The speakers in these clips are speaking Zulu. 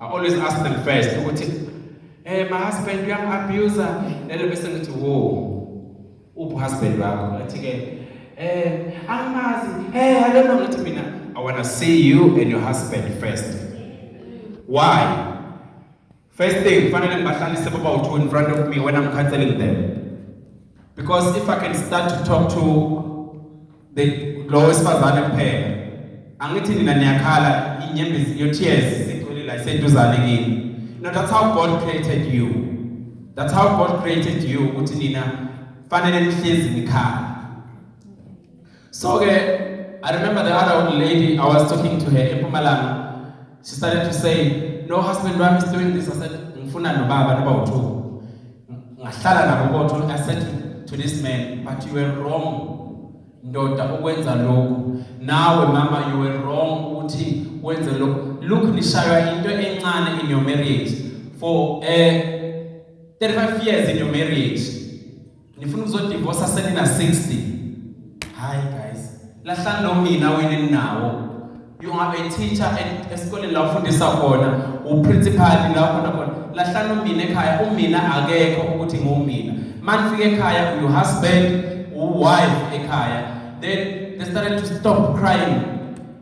I always ask them first ukuthi eh my husband uyam abuser lelo bese ngithi wo uphi husband wakho athi ke eh angimazi eh i don't know ngithi mina i want to see you and your husband first why first thing fanele ngibahlalise baba uthu in front of me when i'm counseling them because if i can start to talk to lo wesifazane kuphela angithi nina niyakhala inyembezi your tears sigcwele la iseduzane kini no that's how god created you that's how god created you ukuthi nina fanele nihlezi nikhala so ke i remember the other old lady i was talking to her eMpumalanga She started to say, no husband wami is doing this. I said, ngifuna nobaba noba uthu. Ngahlala nabo kodwa I said to, to this man, but you were wrong. Ndoda ukwenza lokhu. Nawe mama you were wrong ukuthi wenze lokhu. Look nishaywa into encane in your marriage for uh, eh, 35 years in your marriage. nifuna ukuzodivosa senina 60 hayi guys lahlani nomina wena ninawo you are a teacher and esikoleni la ufundisa khona uprincipal la khona khona lahlani umina ekhaya umina akekho ukuthi ngumina manifika ekhaya uyu husband uwife ekhaya then they started to stop crying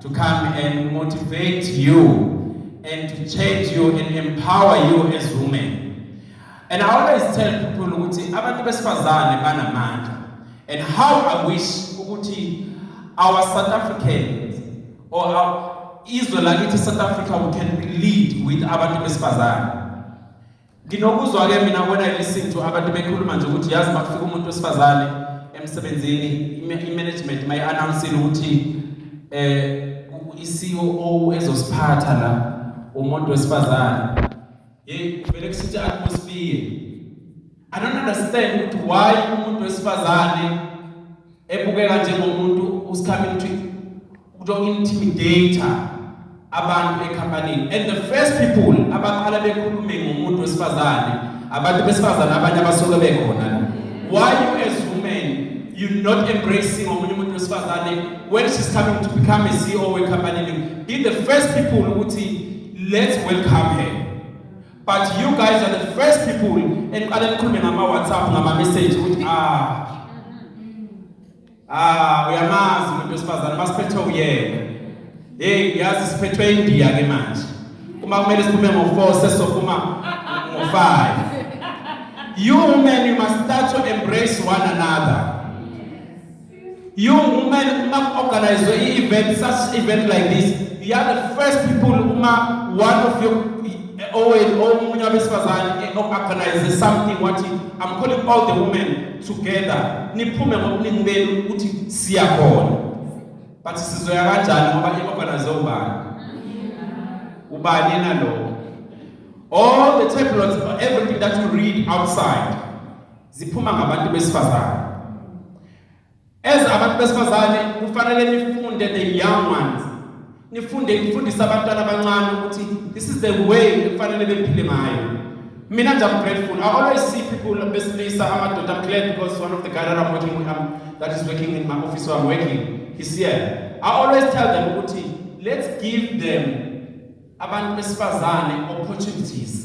to come and motivate you and to change you and empower you as women. And I always tell people ukuthi abantu besifazane banamandla. And how I wish ukuthi our South Africans or our izwe lakithi South Africa we can lead with abantu besifazane. Nginokuzwa ke mina when I listen to abantu bekhuluma nje ukuthi yazi makufika umuntu wesifazane emsebenzini i-management may announce ukuthi eh i-COO e ezosiphatha la umuntu wesifazane hey vele kusithi atmosphere I don't understand ukuthi why umuntu wesifazane ebukeka njengomuntu who's coming to to intimidate abantu ecompany and the first people abaqala bekhulume ngomuntu wesifazane abantu besifazane abanye abasuke bekhona why you as women you not embracing omunye umuntu wesifazane when she's coming to become a CEO we company be the first people ukuthi let's welcome her But you guys are the first people eniqale nikhulume ngama WhatsApp ngama message ukuthi ah ah uyamazi umuntu wesifazane masiphethe uyena hey yazi siphethwe indiya ke manje uma kumele siphume ngo4 sesophuma ngo5 you women you must start to embrace one another You women uma organize i event such event like this, you are the first people uma one of your owenu omunye abesifazane organize something wathi I'm calling all the women together niphume ngobuningi benu ukuthi siyakhona. But sizoya kanjani ngoba i organize ubani? Ubani nalo? All the tablets, everything that you read outside ziphuma ngabantu besifazane as abantu besifazane kufanele nifunde the young ones nifunde ifundisa abantwana abancane ukuthi this is the way ekufanele bephile ngayo mina nje I'm grateful I always see people besilisa amadoda I'm glad because one of the guys that I'm working with um, that is working in my office where I'm working he's here I always tell them ukuthi let's give them abantu besifazane opportunities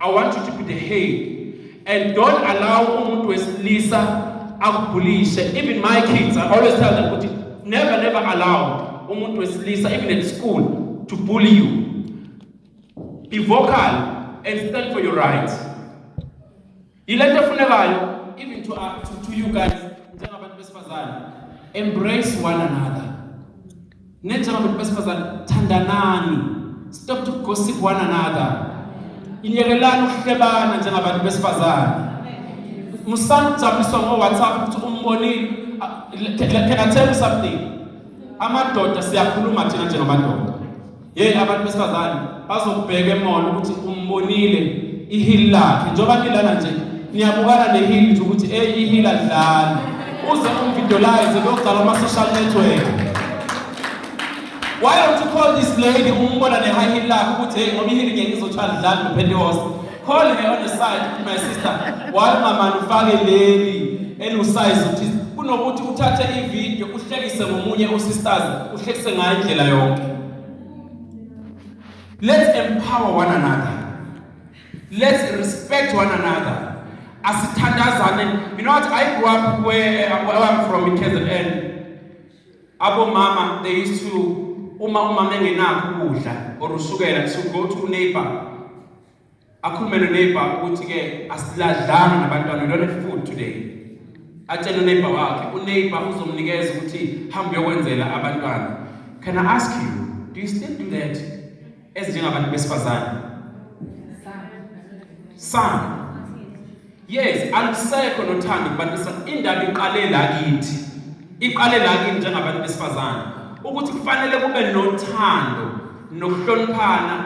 I want you to be the head and don't allow umuntu wesilisa akubhulishe even my kids I always tell them ukuthi never never allow umuntu wesilisa even at school to bully you be vocal and stand for your rights yilento efunekayo even to, uh, to, to you guys njengabantu besifazane embrace one another Nenjalo bantu besifazane thandanani. Stop to gossip one another. Inyekelani ukuhlebana njengabantu besifazane. Musani ukujabuliswa ngo WhatsApp ukuthi umbonile. Can I tell you something? Amadoda siyakhuluma thina njengamadoda. Yey abantu besifazane bazokubheka emall ukuthi umbonile ihili lakhe njengoba nilana nje niyabukana nehili nje ukuthi ey ihili alidlali uze umvideolayize beyogcala ama-social network why don't you call this lady umbona ne-high heel lakhe ukuthi hey ngoba ihili ngeke izothi alidlali nophentekoste Call her on the side, my sister. Why mama ufake leli elusize uthi kunokuthi uthathe ivideo uhlekise ngomunye usisters uhlekise ngayo indlela yonke. Let's empower one another. Let's respect one another. Asithandazane. You know what? I grew up where, where I'm from in KZN. Abo mama they used to uma umama engenakho ukudla or usukela to go to neighbor akhulume noneighbor ukuthi-ke asiladlanga nabantwana we don't have food today atshele uneighbor wakhe uneighbor uzomnikeza ukuthi hambe uyokwenzela abantwana can i ask you do you still do that ezinjengabantu besifazane some Yes, alusekho nothando kubantu besifazane. Indaba iqale la kithi. Iqale la kithi njengabantu besifazane ukuthi kufanele kube nothando nokuhloniphana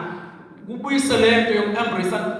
kubuyise lento yokuembrace